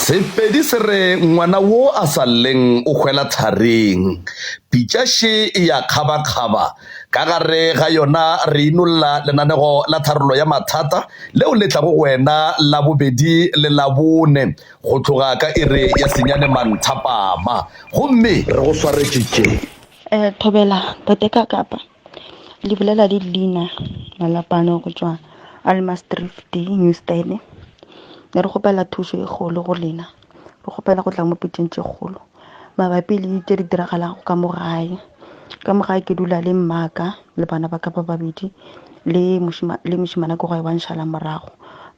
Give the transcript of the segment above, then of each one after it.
Sepedi se re ngwana wo a sa lleng o hwela tharing. Pitša še e ya kgabakgaba. Ka gare ga yona re inolla lenanego la tharollo ya mathata leo le tlago go wena Labobedi le Labone go tloga ka iri ya senyane manthapama. Gomme re go swaretše tše. Thobela, Tate Kakapa. Lebelela le leina la lapano go tšwa Almasdrift New Stad. Ne re kgopela thušo e kgolo go lena. Re kgopela go tla mo pitšeng tše kgolo mabapi le tše di diragalago ka mo gae. Ka mo gae ke dula le mmaka le bana ba ka ba babedi le le mošemana ko gae wa nšhala morago.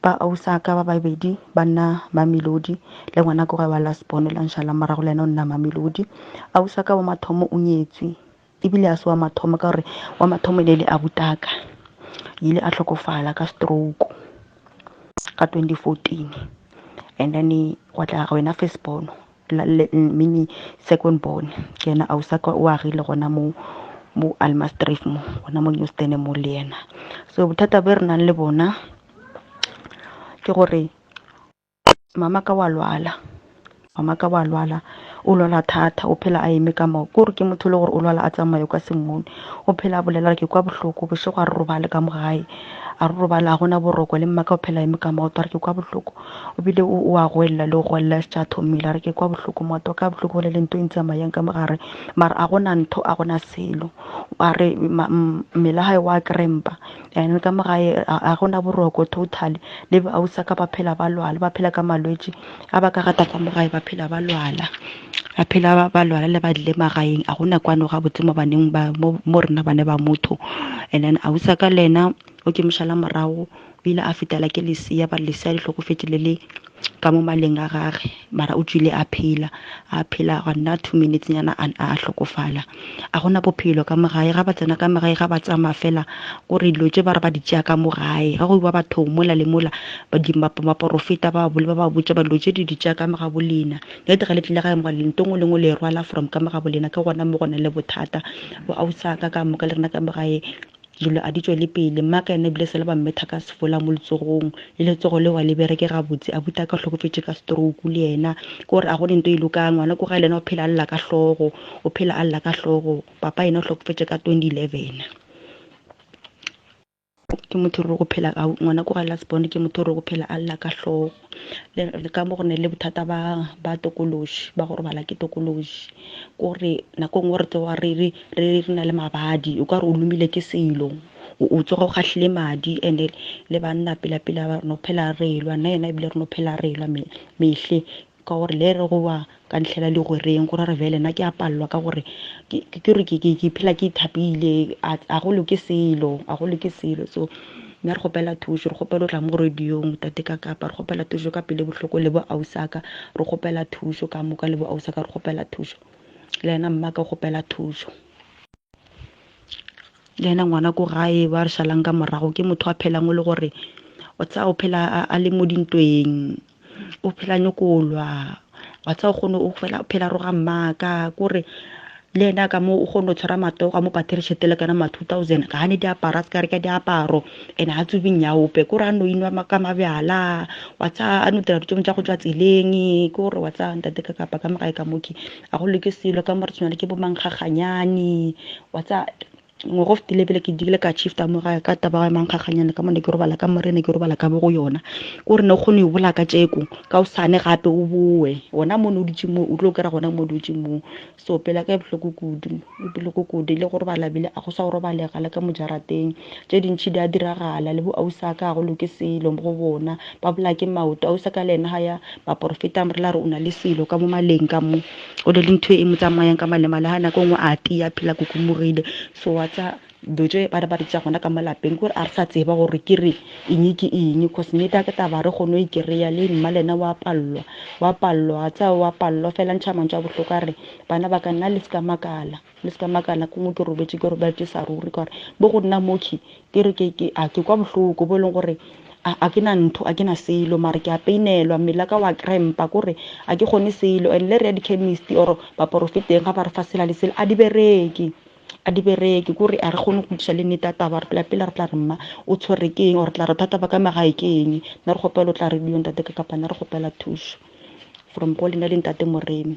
Ba ausa ka ba babedi ba nna Mamelodi le ngwana ko gae wa last born la nšhala morago le yena o nna Mamelodi. Ausa ka wa mathomo o nyetswe. Ebile ga se wa mathomo ka gore wa mathomo e ne e le abu taka. O ile a hlokofala ka stroke ka 2014 and then gwa tla wena first born meaning second born ke yena ausi wa ka o agile gona moo mo Almasdrift mo gona mo Newston mo le yena. So bothata bjo re nang le bona ke gore mama ka wa lwala mama ka wa lwala o lwala thata o phela a eme ka moo ke gore ke motho le gore o lwala a tsamaye kwa sengmone o phela a bolela ke kwa bohloko bošego a re robale ka mo gae a re robale a gona boroko le mmaka o phela eme ka maoto a re ke kwa bohloko o bile o a goelela le go goelela e se tša thomile a re ke kwa bohloko maoto ka bohloko go le le nto e ntsamayang ka mo gare mara a gona ntho a gona selo a re mmele gae wa krempa And ka mo gae ga go na boroko totally. Le bausa ka ba phela ba lwala, ba phela ka malwetši a ba ka rata ka mo gae ba phela ba lwala. Ba phela ba ba lwala le ba dile magaeng a go na kwano ga botse mo baneng ba mo mo rena bane ba motho. And then ausa ka le yena o ke mošala morago o ile a fetela ke lesia ba lesia le hlokofetše le le ka mo maleng a gage mara o tswile a phela a phela ga nna two minutes nyana a a hlokofala a gona bophelo ka mogae ga ba tsena ka mogae ga ba tsamaya fela o re dilo tse ba re ba di tšea ka mogae ga go iwa bathong mola le mola baporofeta ba bole ba ba botša ba dilo tse di di tšea ka mogabo lena le tega le tlile gae moga le ntong o lengwe le e rwala from ka mogabo lena ke gona mo gona le bothata bo ausa ka ka moka le rena ka mogae Dilo a di tšwele pele. Mme a ka yena ebile sele ba mmetha ka sefola mo letsogong, le letsogo leo ga le bereke gabotse. Abuti a ka o hlokofetše ka stroke le yena. Ke gore a go ne nto e lokang. Ngwana ko gae le yena o phela a lla ka hlogo, o phela a lla ka hlogo. Papa yena o hlokofetše ka 2011. Ke motho o re go phela, ngwana ko gae last born ke motho o re go phela a lla ka hlogo. le ka mo go ne le bothata ba ba tokološi ba go robala ke tokološi ko re nako e nngwe re tloga re re re re na le mabadi o ka re o lomile ke selo o tsoga o gahlile madi ene le banna pela pela ba no phela re lwa nna yena ebile re no phela re lwa mehle ka gore le re go wa ka ntlhela legwereng go ra re bjale na ke a palelwa ka gore ke re ke phela ke ithapile a go loke selo a go loke selo so nna re kgopela thušo re kgopela o tla mo radiong tate ka kapa re kgopela thušo ka pele bohloko le bo ausaka re kgopela thušo ka moka le bo ausaka re kgopela thušo le yena mma ka kgopela thušo le yena ngwana ko gae ba re šalang ka morago ke motho a phelang o le gore o tsaya o phela a le mo dintweng o phela nyokolwa wa tsa o kgone o phela roga mmaka kore le ena ka mo o kgone go tshwara matogo a mo pathere tšhete le kana ma 2000 ga a ne diaparo a se ka reka diaparo ene ga tsobe nyaope kore a no inwa ka mabjala wa tsa a no dira ditšomo tša go tswa tseleng kore wa tsa ntate ka kapa ka mogae ka moke a go loke selo ka mo re tshwana le ke bo mangkgaganyane wa tsa ngwaga o fetile pele ke dikile ka chifta mo gae ka taba ya mankgakganyane ka mone ke robala ka morene ke robala ka bo go yona ko re ne o kgone o bola ka tšeko ka o sane gape o boe gona mone o dutse moo o tlo kry-a gona mo dutse moo so pele ka e bohloko kudu e bohloko kudu le go robala bile a go sa go robalega le ka mojarateng tše dintšhi di a diragala le bo ausa ka go loke selo mo go bona ba bola ke maoto ausa ka le ena ga ya baporofeta mo re la re o na le selo ka mo maleng ka mo o le le ntho e mo tsamayang ka malemale ga nako nngwe a tia phela kukumogile so wa tsa do tse ba re ba re tsa gona ka malapeng gore a re sa tseba gore ke re eng ke eng cause ne ta ke taba re kgone go ikereya le mma le ena wa pallwa wa pallwa tsa wa pallwa fela ntšha mantšu a bohloko a re bana ba ka nna le se ka makala Le se ka makala ke mo ke robetše ke robetšesa ruri ka gore bo go nna moki ke re ke ke a ke kwa bohloko bo e leng gore a a ke na ntho a ke na selo mara ke a peinelwa mmele ka wa krempa kore a ke kgone selo and le re ya dichemist or baporofeteng ga ba re fa sela le sela a di bereke a di bereke kore a re kgone go kgodiša le nnete ya taba re phela pele re tla re mma o tshwere ke eng or tla re thata ba ka magae ke eng nna re kgopela o tla re dio ntate ka kapa nna re kgopela thušo from go lena le ntate moremi